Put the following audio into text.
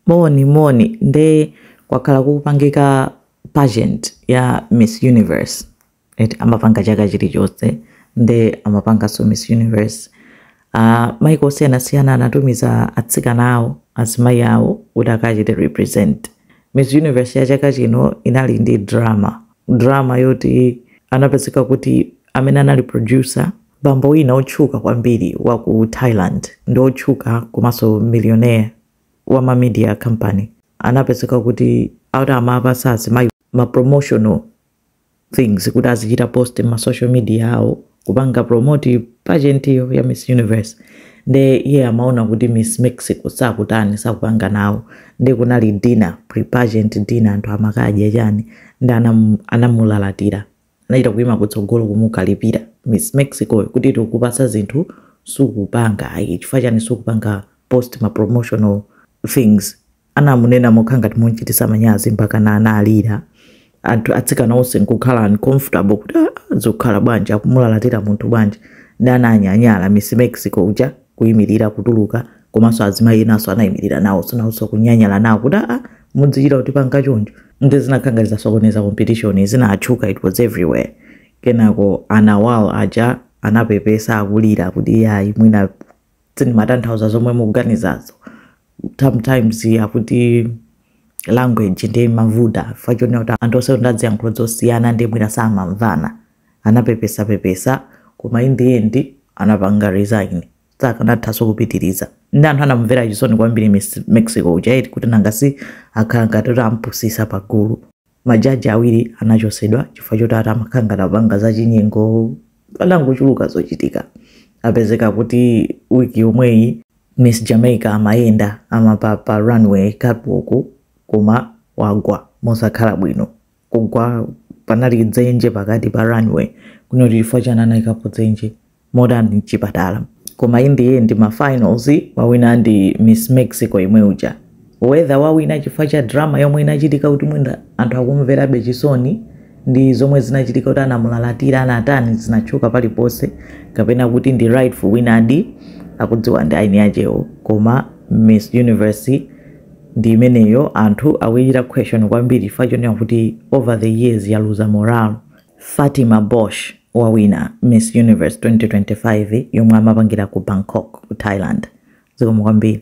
Moni moni nde kwakhala kukupangika pageant ya miss universe eti amapanga chaka chilichonse nde amapanganso miss universe uh, maiko osiyanasiyana anatumiza atsikana awo azimayi awo kuti akachite represent miss universe ya chaka chino inali ndi drama drama yoti anapezeka kuti amene anali producer bambo wina otchuka kwambiri wa ku thailand ndi otchuka komanso millionaire wa ma media company anapezeka kuti akuti amapasa azimayi ma promotional things kuti azichita post ma social media awo kupanga promote pageant iyo ya miss universe nde iye amaona kuti miss mexico sakutani sakupanga nawo nde kunali dinner pre pageant dinner anthu amakadya chani nde anam- anamulalatira Anachita kuima kutsogolo kumukalipira Miss Mexico kuti tikukupatsa zinthu sukupanga ayi chifukwa chani sukupanga post ma promotional things. Anamunena mokhala ngati mumchitisa manyazi mpakana analira. Anthu atsikana onse nkukhala uncomfortable kuti ah, ah, zikukhala bwanji akumulalatira munthu bwanji. Nde ananyanyala Miss Mexico uja. kuimirira kutuluka komanso azimayi enanso anayimirira nawo sonawonso kunyanyala nawo kuti aa mudzichita kutipanga choncho nde zinakhala ngati zasokoneza competition zinatchuka it was everywhere kenako a nawat aja anapepesa akulira kuti iyayi ine sindimatanthauza zomwe mukuganizazo sometimes akuti language imavuta chifukwa chonena kuti anthu onse ndi aziyankhulo zosiyana nde mwina samamvana anapepesapepesa koma in the end anapanga resign sakanathanso kupitiriza nde anthu anamumvera chisoni kwambiri Miss mexico uja eti kuti nanga si akhala ngati kuti ampusisa pagulu majaji awiri anachosedwa chifukwa choti ati amakhala ngati akupanga zachinyengo panangochuluka zochitika apezeka kuti wiki yomweyi miss jamaica amayenda amapanga pa runway catwalk koma wagwa mosakhala bwino kugwa panali dzenje pakati pa runway kunoti chifukwa chani anayikapo dzenje modani mchipatala koma in the end ma finals wawina ndi miss mexico yemwe uja whether wawina chifukwa cha drama yomwe inachitika kuti mwina anthu akumverabe chisoni ndi zomwe zinachitika kuti anamulalatira anatani zinatchuka paliponse kapena kuti ndi rightful winner di akudziwa ndi eni akewo koma miss universe ndi imeneyo anthu akuichita question kwambiri chifukwa chonena kuti over the years yaluza morale fatima bosch wawina miss universe 2025 yomwe amapangira ku bangkok ku thailand zikomo kwambiri